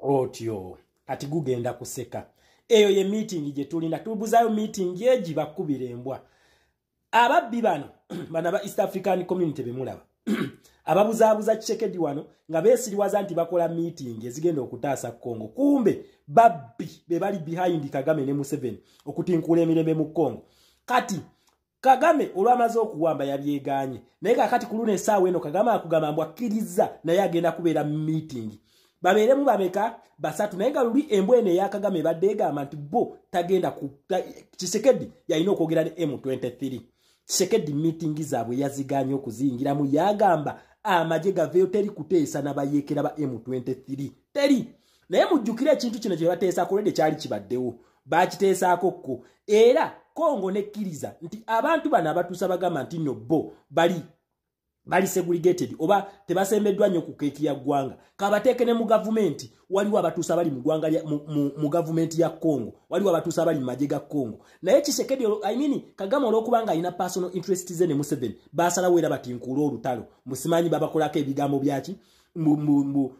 otyo kati gugenda kuseka eyo ye meeting gye tulina tubuzayo meeting egi bakubira embwa ababbi bano bana ba east african community bemulaba ababuzaabuza kisekedi wano nga beesiriwaza nti bakola meeting ezigenda okutaasa congo kumbe babbi be bali behind kagame ne museveni okutinkuula emirembe mu congo kati kagame olwamaze okuwamba yabyeganye naye kakati ku luno esaawa eno kagame akugamba mbu akkirizza naye agenda kubeera meeting babeeremu babeka basatu naye nga luli embwa eno eya kagame ebadde egamba nti bo tagenda kisekedi yalina okwogera ne m23 kisekedi meeting zaabwe yaziganye okuziyingiramu yagamba amagye gaveyo teri kuteesa nabayeekera ba m23 teri naye mujjukire ekintu kino kye bateesa kulede kyali kibaddewo baakiteesaako kko era kongo nekkiriza nti abantu bano abatuusa bagamba nti no bo bali bali segregated oba tebasembeddwa nnyo ku keeki ya ggwanga kabateeke ne mu gavumenti waliwo abatuusa bali mu ggwanga mu gavumenti ya congo waliwo abatuusa bali mu magye ga congo naye kisekedi i mean kagame olwokuba nga alina personal interest ze ne museveni basalawo era batinkuula olutalo musimanyi babakolako ebigambo byaki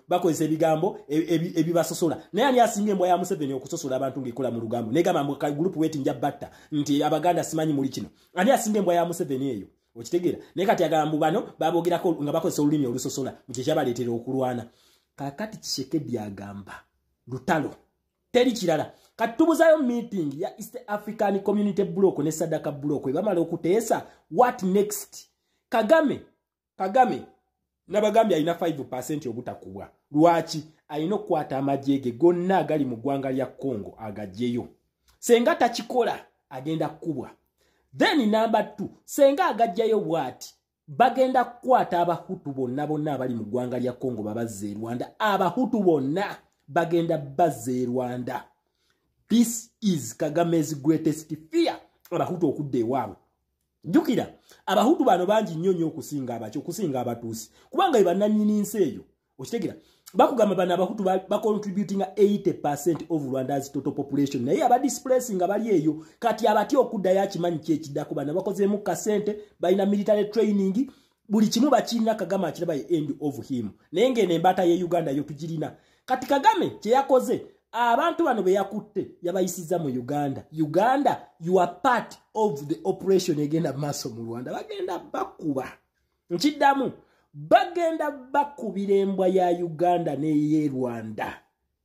bakozesa ebigambo e, e, ebibasosola naye ani asinga embwa ya museveni okusosola abantu ngaekola mu lugambo negamba mugrupu weti nja batta nti abaganda simanyi muli kino ani asinga embwa ya museveni eyo okitegeera naye kati agambu bano babogerako nga bakozesa olulimi olusosola mukyekyabaleetera okulwana kakati kisekedi agamba lutalo teri kirala kati tubuzayo meeting ya east african community block ne sadaka block ebamala okuteesa what next kagame kagame nabagambye alina 5 percent obutakubwa lwaki alina okukwata amagye ge gonna agali mu ggwanga lya congo agajjeyo senga takikola agenda kukubwa then namba t senga agajjayo bwati bagenda kukwata abahutu bonna bonna abali mu ggwanga lya congo babazza e rwanda abahutu bonna bagenda bazza e rwanda this is kagame's greatest fear abahutu okudda ewaabwe jukira abahutu bano bangi nnyo nnyo okusinga abaki okusinga abatuusi kubanga be bannannyini nsi eyo okitegera bakugamba bano abahutu bacontributinga 80 percent of rwandas total population naye abadisplacing nga bali eyo kati abatya okuddayo akimanyi kyekiddako bano bakozeemu kasente balina military training buli kimu bakirina kagame akiraba ye end of him naye ng'eno embaata ye uganda yo tugirina kati kagame kye yakoze abantu bano be yakutte yabayisizza mu uganda uganda you are part of the operation egenda maaso mu rwanda bagenda bakuba nkiddamu bagenda bakubira embwa ya uganda neye rwanda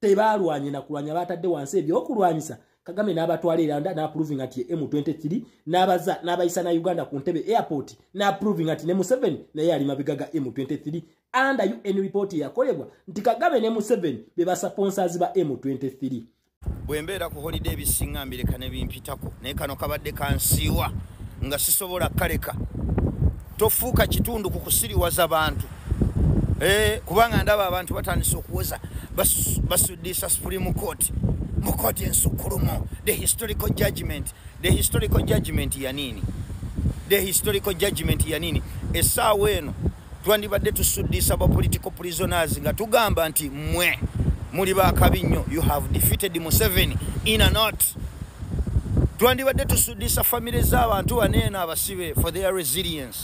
tebaalwanye nakulwanya baatadde wansi ebyokulwanyisa kagame n'abatwala era n'aprovinga nti ye m23 n'abaza n'abayisa na uganda ku ntebe airport n'aprovinga nti ne museveni naye yali mabega ga m23 under un report yakolebwa nti kagame ne museveni be basaponsers ba m23 bwe mbeera ku holide ebisinga mbireka ne bimpitako naye kano kabadde kansiiwa nga sisobola kaleka tofuuka kitundu ku kusiriwaza bantu eh, kubanga ndaba abantu batandise okuwoza basuddiisa supreme court mu kooti ensukkulumu the historical judgment the historical judgment yaniini the historical judgment yaniini essaawa eno twandibadde tusuddiisa ba political prisoners nga tugamba nti mwe muli bakabi nnyo you have defeated museveni in a not twandibadde tusudisa famire z'abantu baneeno abasibe for their resilience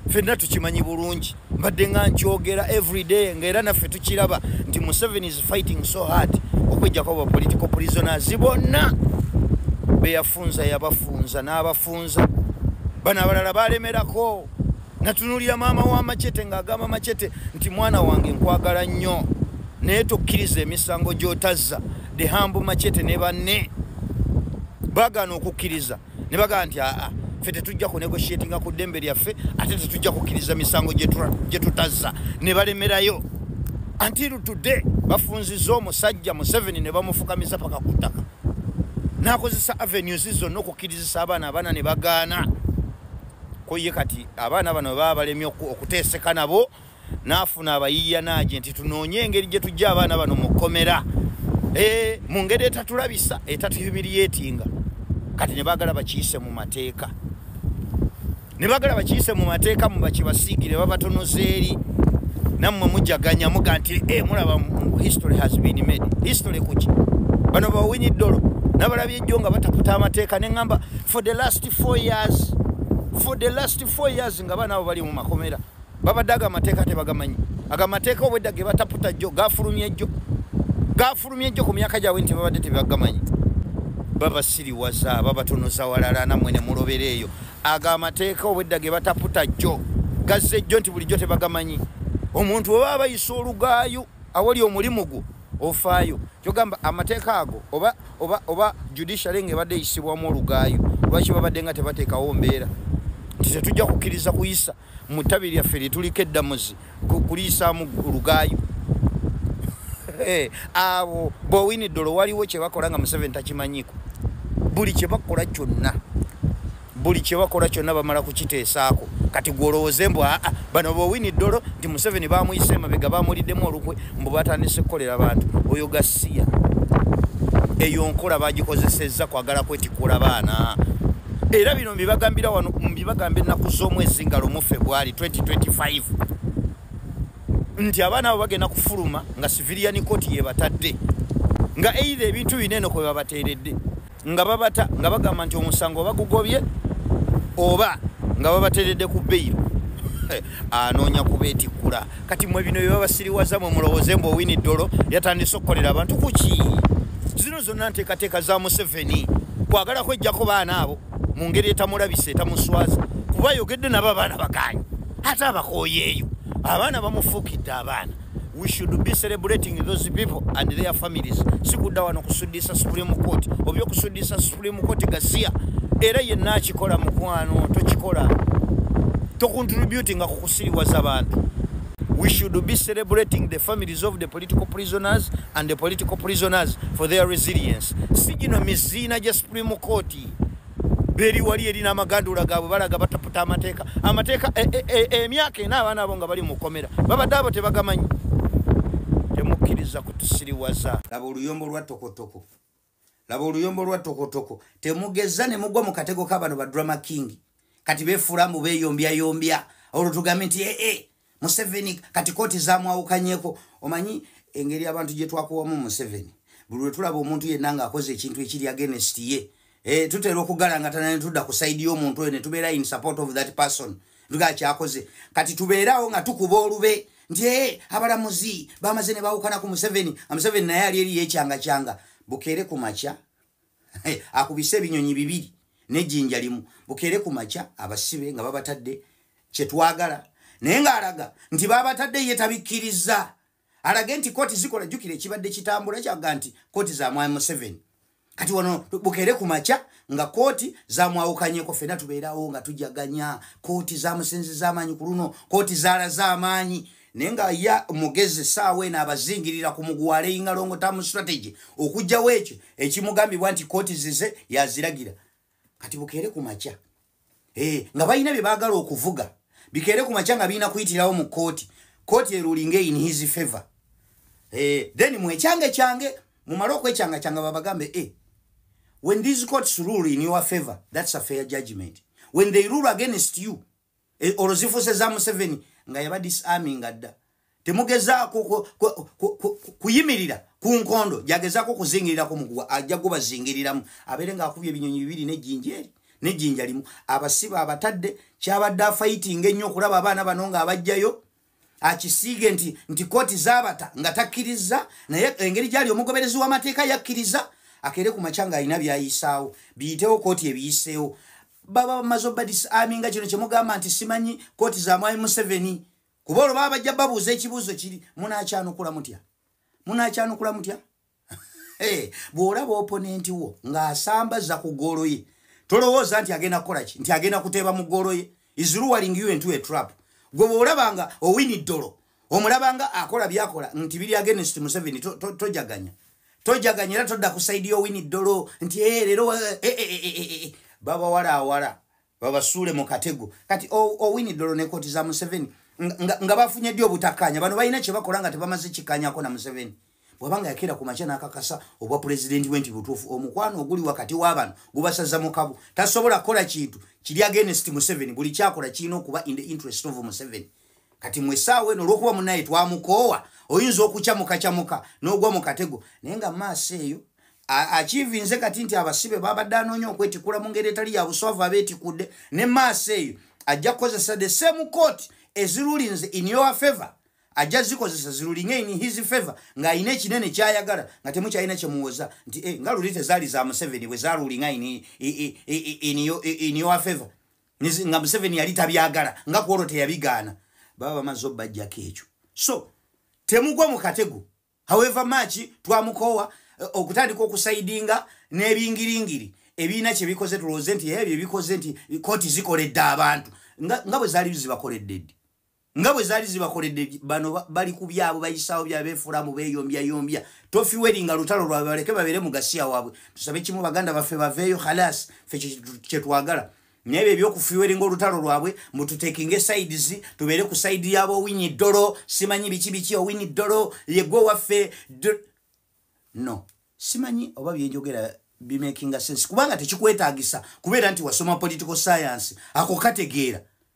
fenna tukimanyi bulungi mbadde nga nkyogera everyday ngaera naffe tukiraba nti museven is fighting so hard okwejjako ba political prisoners bonna beyafunza yabafunza n'abafunza bano abalala balemerako natunulira maama wa macete ng'agamba macete nti mwana wange nkwagala nnyo naye tokkiriza emisango gy'otazza dehambu macete ne banne bagaana okukkiriza ne bagamba nti aa ffe tetujja kunegoshiatinga ku ddembe lyaffe ate tetujja kukkiriza misango gye tutazza ne balemerayo antiru today bafunziza omusajja museveni ne bamufukamiza paka ku ttaka n'akozesa avenues zonna okukkirizisa abaana abaana ne bagaana ko ye kati abaana bano baba balemye okuteeseka nabo n'afuna abayiiya naagye nti tunoonye engeri gye tujja abaana bano mu kkomera eh, mu ngeri etatulabisa etatuyumiriyetinga kati ne baagala bakiyise mu mateeka ne baagala bakiyise mu mateeka mu bakibasiigire babatonoza eri nammwe mujaganya muga nti e mulaba history has been made history kuki bano bawinyi ddolo nabalabye ejjo nga bataputa amateeka ne ŋamba for the last four years for the last four years nga abaana abo bali mu makomera babadde ago amateeka tebagamanyi ago amateeka obwedda ge bataputa jjo gafulumye jjo gafulumye jjo ku myaka gyabwe nti babadde tebagamanyi babasiriwaza babatonoza walala namwe ne mulobera eyo ago amateeka obwedda ge bataputa jjo gazze jjo nti bulijjo tebagamanyi omuntu oba abayisa olugaayu awali omulimu gwo ofaayo kyogamba amateeka ago oba oba oba judiciary ngaebadde eyisibwamu olugaayo lwaki babadde nga tebateekawo mbeera nti tetujja kukkiriza kuyisa mu ttabi lyaffe lyetuliko eddamuzi kuliyisaamu olugaayo eh, abo bowinidolo waliwo kyebakola nga museveni takimanyiko buli kyebakola kyonna buli kyebakola kyonna bamala kukiteesaako kati gwolowooze mbu aa bano bowini ddolo nti museveni bamuyise emabega bamuliddemu olukwe mbu batandise kukolera abantu oyo gasiya eyo nkola bagikozesezza kwagala kwetikula abaana era bino mbibagambira wano mbibagamba ennaku z'omwezi nga lumu febwali 2025 nti abaana abo bagenda kufuluma nga siviliyani koti yebatadde nga eitha ebintu bino eno kwe babateeredde nga babata nga bagamba nti omusango bagugobye oba nga babateredde ku beyiro eh, anoonya kubetikkula kati mwe bino byebabasiriwaza mwe mulowooze mbu owini ddolo yatandise okukolera abantu kuki zino zonna nteekateeka za museveni kwagala kwejjako baana abo mu ngeri etamulabisa etamuswaza kuba ayogedde nabo abaana bagaanyi ate abakooyeeyo abaana bamufuukidde abaana we should be celebrating those people and their families sikudda wano kusuddiisa supreme court oba okusuddiisa supreme court gasiya era yenna akikola mukwano tokikola tocontributinga ku kusiriwaza bantu we should be celebrating the families of the political prisoners and the political prisoners for their resilience si gino miziina gya supreme court beri wali eri n'amagandula gaabwe balaga bataputa amateeka amateeka e, e, e, emyaka ena abaana abo nga bali mu kkomera babadde abo tebagamanyi temukkiriza kutusiriwaza laba oluyombo lwa tokotoko laba oluyombo lwa tokotoko temugeza ne mugwa mu katego ka bano ba drama king kati befuula mbu beyombyayombya olwo tugambe nti ee eh, eh, museveni kati kooti zamwawukanyeko omanyi engeri abantu gyetwakuwamu museveni buli lwetulaba omuntu yenna ngaakoze ekintu ekiri agenest ye eh, tutera okugalangatana netudda ku saidi y'omuntu oyo netubeera in support of that person nga kyakoze kati tubeerawo nga tukuba olube nti e abalamuzi bamaze ne bawukana ku museveni amuseveni naye ali eri yekyanga kyanga bukeere ku makya akubise ebinyonyi bibiri nejinja limu bukeere ku makya abasibe nga babatadde kyetwagala naye ngaalaga nti babatadde ye tabikkiriza alage nti kooti zikola jjukira ekibadde kitambula kyaga nti kooti za mwami museveni kati wano bukeere ku makya nga kooti zamwawukanyeko fena tubeerawo nga tujaganya kooti zamusinziza amaanyi ku luno kooti zalaza amaanyi naye nga ya mugezi saawa eno abazingirira ku muguwala eyingalongo tamu strategy okugjawo ekyo ekimugambibwa nti kooti zize yaziragira kati bukeere ku makya eh, nga balina bye baagala okuvuga bikeere ku makya nga birina kuyitirawo mu kooti kooti erulinga in his favor eh, then mwekyange kyange mumale okwekyanga kyanga babagambe e when these courts rule in your favor that's a fair judgment when they rule against you e, olwo zifuuse za museveni nga yaba disaminga dda temugezaako kuyimirira ku nkondo gyagezaako okuzingirirako muguwa ajja gubazingiriramu abeere ngaakubya ebinyonyi bibiri nejjinja eri nejjinja limu abasiba abatadde kyabadde afayitinga ennyo okulaba abaana bano nga abajjayo akisiige nti nti kooti zabata nga takkirizza naye engeri gyali omugoberezi w'amateeka yakkiriza akeere ku makya ng'alina byayisaawo biyitewo kooti ebiyiseewo baba bamaze obadis ami nga kino kyemugamba nti simanyi kooti za mwami museveni kuba olwo baba bajja babuuza ekibuuzo kiri munakyanukula mutya munakyanukula mutya bw'olaba oponenti wo ng'asambaza ku ggoolo ye tolowooza nti agenda kukola ki nti agenda kuteeba mu ggoolo ye iziruwaling u entu etrap gwe bw'olaba nga owini ddolo omulaba nga akola byakola nti biri agenst museveni tojaganya tojaganya era todda ku saidi y'owini ddolo nti eh, leero eh, eh, babawala awala babasuule mu katego kati owini dolo ne koti za museveni nga bafunye ddi obutakanya bano balina kyebakola nga tebamaze kikanyako na museveni bwabanga yakeera ku makya n'akakasa obwa pulezidenti we nti butuufu omukwano oguli wakati w'abano gubasaza mukabu tasobola kukola kintu kiri agenest museveni buli kyakola kirina okuba in the interest of museveni kati mwe saawa eno olwokuba munaye twamukoowa oyinza okukyamukakyamuka n'ogwa mu katego naye nga maaso eyo akivinze kati nti abasibe babadde anoonya okwetikula mu ngeri etali ya buswavu abeetikudde ne maaso eyo ajja kukozesa the same court ezirulinze in your favor ajja zikozesa zirulinge in his favor ng'alina ekinene kyayagala nga temukyalina kyemuwoza nti eh, nga luli tezaali za museveni bwe zarulinga in your favor nga museveni yali tabyagala nga kwolwo teyabigaana baba bamaze obajjako ekyo so temugwa mu katego however much twamukoowa eh, okutandika okusaidinga n'ebingiringiri ebiina kye bikoze tulowooze nti ebyo bikoze nti kooti zikoledde abantu nga bwe zaali zibakoledde ddi nga bwe zaali zibakoledde bano bali ku byabwe bayisaawo byabeefulamu beeyombyayyombya tofiweri nga lutalo lwabwe baleke babeere mu gasiya waabwe tusabe kimu baganda baffe baveeyo khalas fe kye twagala naye byo ebyokufiweri ngaolutalo lwabwe mututekinge sides tubeere ku saidi yaabo owini ddolo simanyi biki biki owini ddolo yegwe waffe no simanyi oba byenjogera bimakinga sense kubanga tekikwetaagisa kubeera nti wasoma political science ako kategeera